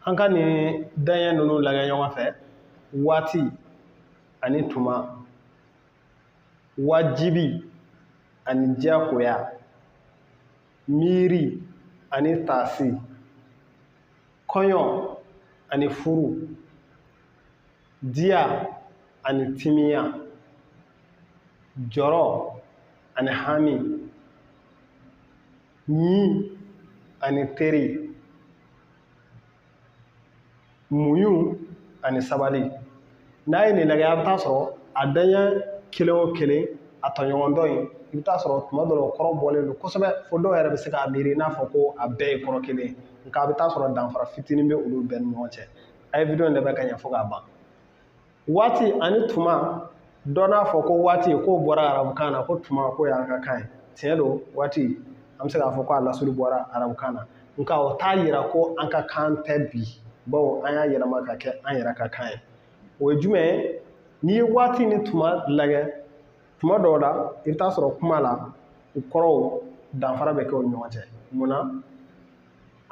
an ka nin daɲɛ ninnu lagɛ ɲɔgɔn fɛ waati ani tuma wajibi ani diyagoya miiri ani taasi kɔɲɔ ani furu diya ani timiya jɔrɔ ani hami ɲi ani teri muɲu ani sabali n'a ye nin lagɛ a bɛ taa sɔrɔ a daɲɛ kelen o kelen a tɔɲɔgɔn dɔ in i bɛ taa sɔrɔ tuma dɔ la o kɔrɔ bɔlen don kosɛbɛ fo dɔw yɛrɛ bɛ se k'a miiri i n'a fɔ ko a bɛɛ ye kɔrɔ kelen ye nka a bɛ taa sɔrɔ danfara fitinin bɛ olu bɛɛ ni ɲɔgɔn cɛ a ye wideyo in lagɛ ka ɲɛ fo k'a ban waati ani tuma dɔ n'a fɔ ko waati k'o bɔra arabukan na ko tuma k'o y'an ka kan ye tiɲɛ don waati an bɛ se k'a fɔ ko a lasuli bɔra arabukan na nka o t'a yira ko an ka kan tɛ bi bawo an y'a yɛlɛma ka kɛ an yɛrɛ ka kan ye o ye jumɛn ye n'i ye waati ni tuma lagɛ tuma dɔw la i bɛ taa sɔrɔ kuma la u kɔrɔw danfara bɛ kɛ u ni ɲɔgɔn cɛ mun na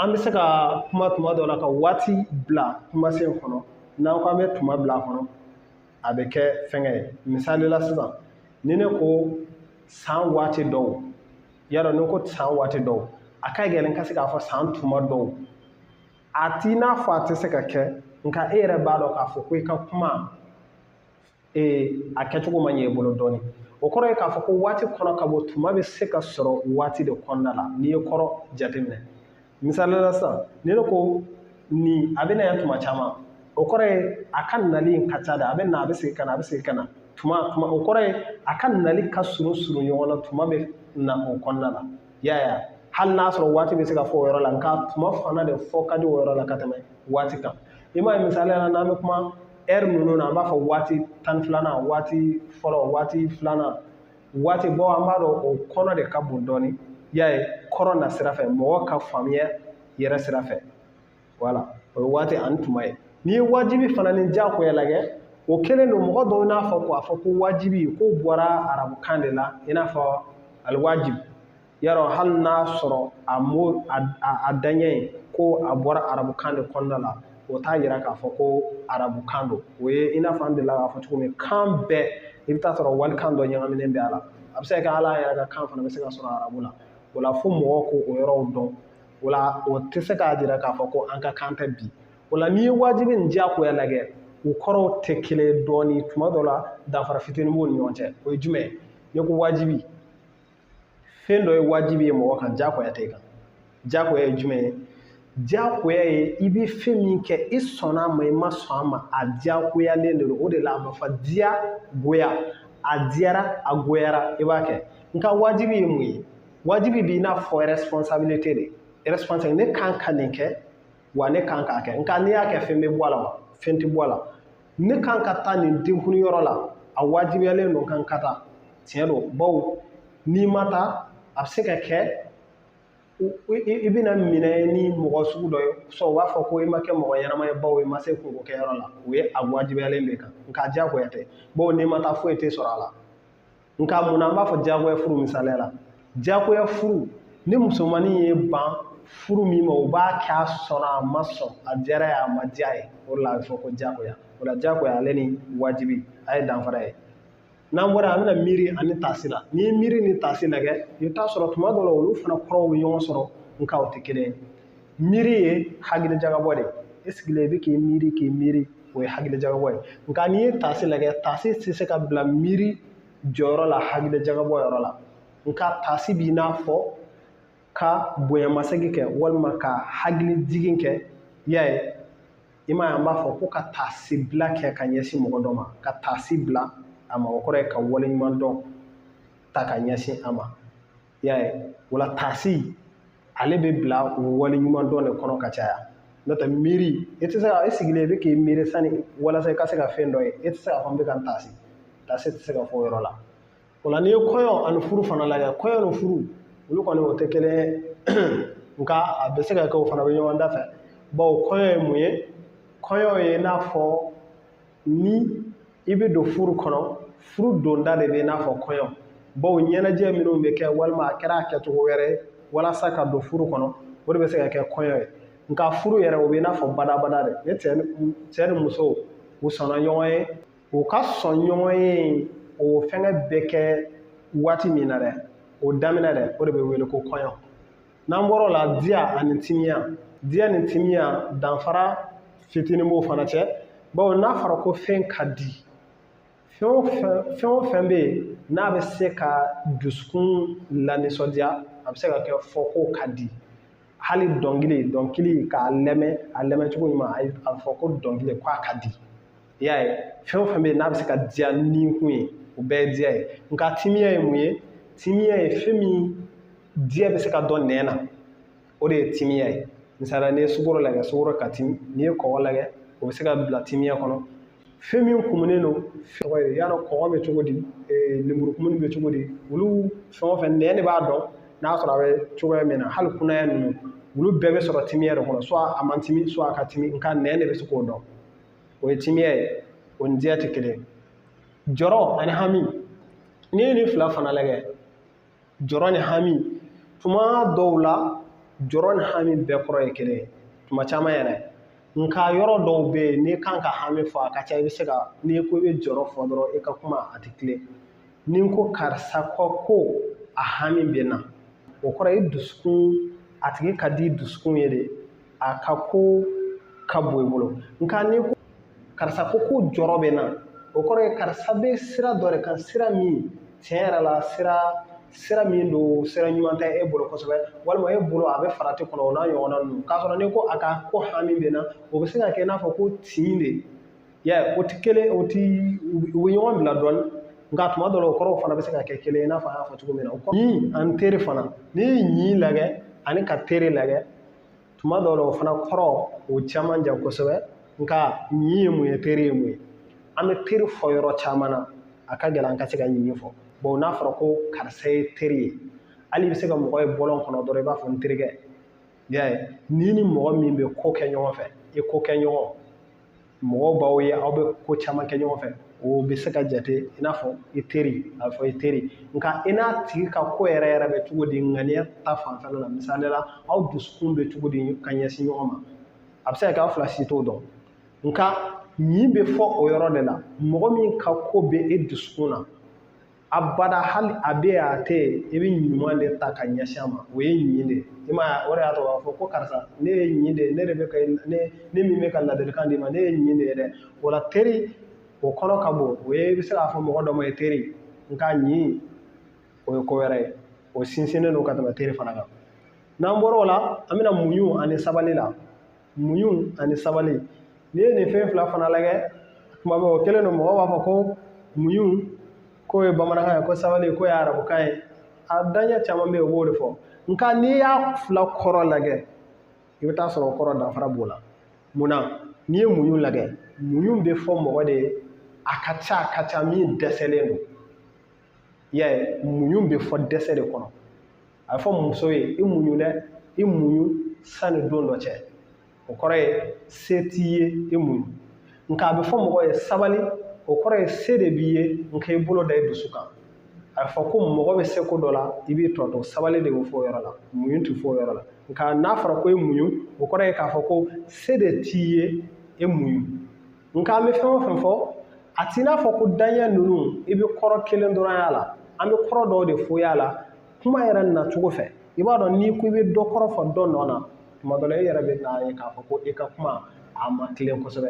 an bɛ se ka kuma tuma dɔ la ka waati bila kumasen kɔnɔ n'an ko an bɛ tuma bila a kɔnɔ a bɛ kɛ fɛngɛ ye misali la sisan ni ne ko san waati dɔw yarɔ n'i ko san waati dɔw a ka gɛlɛn ka se k'a fɔ san tuma dɔw a t'i n'a fɔ a tɛ se ka kɛ nka e yɛrɛ b'a dɔn k'a fɔ ko i ka kuma ee a kɛcogo ma ɲɛ i bolo dɔɔnin o kɔrɔ ye k'a fɔ ko waati kɔnɔ ka bon tuma bɛ se ka sɔrɔ waati de kɔnɔna la n'i ye kɔrɔ jateminɛ misali la sisan ni ne ko nin a bɛ na yan tuma caman o kɔrɔ ye a ka nali in ka ca de a bɛ na a bɛ segin ka na a bɛ segin ka na tuma tuma o kɔrɔ ye a ka nali ka surun surun ɲɔgɔn na tuma bɛ na o kɔnɔna la y'a ye hali n'a sɔrɔ waati bɛ se ka fɔ o yɔrɔ la nka tuma fana de fɔ ka di o yɔrɔ la ka tɛmɛ waati kan i m'a ye misali la n'an bɛ kuma ɛri ninnu na an b'a fɔ waati tan filanan waati fɔlɔ waati filanan waati bɔ an b'a dɔn o kɔnɔ de ka bon dɔɔnin y'a ye kɔrɔ na sira fɛ mɔgɔ ka faamuya yɛrɛ sira fɛ voilà o ye waati ani tuma ye n'i ye wajibi fana ni diyagoya lagɛ o kelen don mɔgɔ dɔw n'a fɔ k'a fɔ ko wajibi k'o bɔra arabukan de la i n'a fɔ aliwajibi yarɔ hali n'a sɔrɔ a mo a daɲɛ ko a bɔra arabukan de kɔnɔna la o t'a yira k'a fɔ ko arabukan don o ye i n'a fɔ an delila k'a fɔ cogo min kan bɛɛ i bɛ taa sɔrɔ walikan dɔ ɲagaminen bɛ a la a bɛ se ka kɛ hali an yɛrɛ ka kan fana bɛ se ka sɔrɔ arabu la o la fo mɔgɔw k'o yɔrɔw dɔn o la o tɛ se k'a jira k'a fɔ ko an ka kan tɛ bi o la n'i ye wajibi ni diyagoya lagɛ u kɔrɔw tɛ kelen ye dɔɔnin tuma dɔ la danfara fitinin b'u ni ɲɔgɔn cɛ o ye jumɛn ye n'i ko wajibi fɛn dɔ ye wajibi ye mɔgɔ kan diyagoya tɛ kan diyagoya ye jumɛn ye diyagoya ye i bɛ fɛn min kɛ i sɔnna a ma i ma sɔn a ma a diyagoyalen de don o de la a bɛ fɔ diya goya a diyara a goyara i b'a kɛ nka wajibi ye mun ye wajibi b'i n'a fɔ responsabilité de responsabilité ne kan ka nin kɛ wa ne kan k'a kɛ nka n'i y'a kɛ fɛn bɛ bɔ a la wa fɛn tɛ bɔ a la ne kan ka taa nin denkundi yɔrɔ la a wajibiyalen don n kan ka taa tiɲɛ don bawo n'i ma taa a bɛ se ka kɛ i bɛna minɛ ni mɔgɔ sugu dɔ ye sɔn u b'a fɔ ko i ma kɛ mɔgɔ ɲɛnama ye bawo i ma se kunko kɛyɔrɔ la o ye a wajibiyalen b'i kan nka diyagoya tɛ bawo n'i ma taa foyi tɛ sɔrɔ a la nka mun na an b'a fɔ diyagoya furu misaliya la diyagoya furu ni musomannin y'i ban furu min ma u b'a kɛ a sɔnna a ma sɔn a diyara a ye a ma diya a ye o de la a bɛ fɔ ko diyagoya o la diyagoya ale ni wajibi a ye danfara ye n'an bɔra an bɛna miiri ani taasi la n'i ye miiri ni taasi lajɛ i bɛ taa a sɔrɔ tuma dɔ la olu fana kɔrɔw bɛ ɲɔgɔn sɔrɔ nka u tɛ kelen ye miiri ye hakilijagabɔ de i sigilen i bɛ k'i miiri k'i miiri o ye hakilijagabɔ ye nka n'i ye taasi lajɛ taasi tɛ se ka bila miiri jɔyɔrɔ la hakilijagabɔ yɔrɔ la nka taasi b'i n'a fɔ ka bonyamasegin kɛ walima ka hakilijigin kɛ y'a ye i m'a ye an b'a fɔ ko ka taasibila kɛ ka ɲɛsin mɔgɔ dɔ ma ka taasi bila a ma o kɔrɔ ye ka waleɲumandɔn ta ka ɲɛsin a ma i y'a ye o la taasi ale bɛ bila o waleɲumandɔn de kɔnɔ ka caya n'o tɛ miiri e tɛ se ka e sigilen i bɛ k'i miiri sani walasa i ka se ka fɛn dɔ ye e tɛ se k'a fɔ n bɛ ka n taasi taasi tɛ se ka fɔ o yɔrɔ la o la n'i ye kɔɲɔ ani furu fana lajɛ kɔɲɔ ni furu olu kɔni u tɛ kelen ye nka a bɛ se ka kɛ u fana bɛ ɲɔgɔn dafɛ bawo kɔɲɔ ye mun ye kɔɲɔ ye i n'a fɔ ni i bɛ don furu kɔnɔ furu donda de bɛ i n'a fɔ kɔɲɔ bawo ɲɛnajɛ minnu bɛ kɛ walima a kɛra a kɛcogo wɛrɛ ye walasa ka don furu kɔnɔ o de bɛ se ka kɛ kɔɲɔ ye nka furu yɛrɛ o bɛ i n'a fɔ badabada de ni cɛ ni muso u sɔnna ɲɔgɔn ye u ka sɔn ɲɔgɔn ye o fɛngɛ bɛ kɛ waati min na dɛ o daminɛ dɛ o de bɛ wele ko kɔɲɔ n'an bɔr'o la diya ani timiya diya ni timiya danfara fitinin b'o fana cɛ bawo n'a fɔra ko fɛn ka di fɛn o fɛn fɛn o fɛn bɛ yen n'a bɛ se ka dusukun lanisɔndiya a bɛ se ka kɛ fɔ k'o ka di hali dɔnkili dɔnkili k'a lɛmɛ a lɛmɛ cogo ɲuman a bɛ fɔ ko dɔnkili k'a ka di i y'a ye fɛn o fɛn bɛ yen n'a bɛ se ka diya ni kun ye o bɛɛ ye diya ye nka timiya ye mun ye timiya ye fɛn min diya bɛ se ka dɔn nɛn na o de ye timiya ye misaliya n'i ye sukoro lagɛ sukoro ka timi n'i ye kɔgɔ lagɛ o bɛ se ka bila timiya kɔnɔ fɛn min kumunen don kɔgɔ i y'a dɔn kɔgɔ bɛ cogo di lemurukumuni bɛ cogo di olu fɛn o fɛn nɛn de b'a dɔn n'a sɔrɔ a bɛ cogoya min na hali kunaya ninnu olu bɛɛ bɛ sɔrɔ timiya de kɔnɔ soit a man timi soit a ka timi nka nɛn de bɛ se k'o dɔn o ye timiya ye o ni diya tɛ kelen jɔrɔ ani hami n'i ye nin fila fana lajɛ jɔrɔ ni hami tuma dɔw la jɔrɔ ni hami bɛɛ kɔrɔ ye kelen ye tuma caman yɛrɛ nka yɔrɔ dɔw bɛ yen n'i kan ka hami fɔ a ka ca i bɛ se ka n'i ko i bɛ jɔrɔ fɔ dɔrɔn i ka kuma a tɛ tilen ni n ko karisa ko ko a hami bɛ n na o kɔrɔ ye dusukun a tigi ka di dusukun ye de a ka ko ka bon i bolo nka n'i ko karisa ko ko jɔrɔ bɛ n na o kɔrɔ ye karisa bɛ sira dɔ de kan sira min tiɲɛ yɛrɛ la sira sira min don sira ɲuman tɛ e bolo kosɛbɛ walima e bolo a bɛ farati kɔnɔ o n'a ɲɔgɔnna ninnu k'a sɔrɔ n'i ko a ka ko hami bɛ n na o bɛ se ka kɛ i n'a fɔ ko tin de yɛ o tɛ kelen o tɛ u bɛ ɲɔgɔn bila dɔɔni nka tuma dɔ la o kɔrɔw fana bɛ se ka kɛ kelen i n'a fɔ an y'a fɔ cogo min na ɲin ani teri fana n'i ye ɲin lagɛ ani ka teri lagɛ tuma dɔw la o fana kɔrɔ o cɛ man jan kosɛbɛ nka ɲin ye mun ye teri ye mun ye an bɛ teri fɔ yɔrɔ caman na a ka gɛlɛn an ka se ka ɲin fɔ bon n'a fɔra ko karisa ye teri ye hali i bɛ se ka mɔgɔ ye bɔlɔn kɔnɔ dɔrɔn i b'a fɔ n terikɛ i y'a ye n'i ni mɔgɔ min bɛ ko kɛ ɲɔgɔn fɛ i kokɛɲɔgɔn mɔgɔw b'aw ye aw bɛ ko caman kɛ ɲɔgɔn fɛ o bɛ se ka jate i n'a fɔ i teri a bɛ fɔ i teri nka i n'a tigi ka ko yɛrɛ yɛrɛ bɛ cogo di ŋaniya ta fanfɛla la misali la aw dusukun bɛ cogo di ka ɲɛsin ɲɔgɔn ma a bɛ se ka kɛ aw fila si t'o dɔn nka ɲin bɛ fɔ o yɔrɔ de la mɔgɔ min ka ko bɛ e dusukun na abada hali a bɛ yen a tɛ yen i bɛ ɲuman de ta ka ɲɛsin a ma o ye ɲin de ye i ma o de y'a to a b'a fɔ ko karisa ne ye ɲin de ye ne de bɛ ka ne ne min bɛ ka ladilikan d'i ma ne ye ɲin de ye dɛ o la teri o kɔnɔ ka bon o ye i bɛ se k'a fɔ mɔgɔ dɔ ma i teri nka ɲin o ye ko wɛrɛ ye o sinsinnen don ka tɛmɛ teri fana kan n'an bɔra o la an bɛna muɲu ani sabali la muɲu ani sabali n'i ye nin fɛn fila fana lajɛ kuma bɛ o kelen don mɔgɔw b'a fɔ ko muɲu k'o ye bamanankan ye ko sabali k'o ye arabukan ye a daɲɛ caman bɛ yen u b'o de fɔ nka n'i y'a fila kɔrɔ lajɛ i bɛ t'a sɔrɔ o kɔrɔ danfara b'o la munna n'i ye muɲu lajɛ muɲu bɛ fɔ mɔgɔ de ye a ka ca a ka ca min dɛsɛlen don i y'a ye muɲu bɛ fɔ dɛsɛ de kɔnɔ a bɛ fɔ muso ye i muɲu dɛ i muɲu sanni don dɔ cɛ o kɔrɔ ye se t'i ye i muɲu nka a bɛ fɔ mɔgɔ ye sabali o kɔrɔ ye se de b'i ye nka i bolo da i dusu kan a bɛ fɔ ko mɔgɔ bɛ se ko dɔ la i b'i tɔ to sabali de bɛ fɔ o yɔrɔ la muɲu tɛ fɔ o yɔrɔ la nka n'a fɔra ko i muɲu o kɔrɔ ye k'a fɔ ko se de t'i ye i muɲu nka an bɛ fɛn o fɛn fɔ a t'i n'a fɔ ko daɲɛ ninnu i bɛ kɔrɔ kelen dɔrɔn y'a la an bɛ kɔrɔ dɔw de fɔ y'a la kuma yɛrɛ nacogo fɛ i b'a dɔn n'i ko i bɛ dɔ kɔrɔ fɔ dɔ nɔ na tuma dɔ la i yɛrɛ bɛ n'a ye k'a fɔ ko i ka kuma a ma tilen kosɛbɛ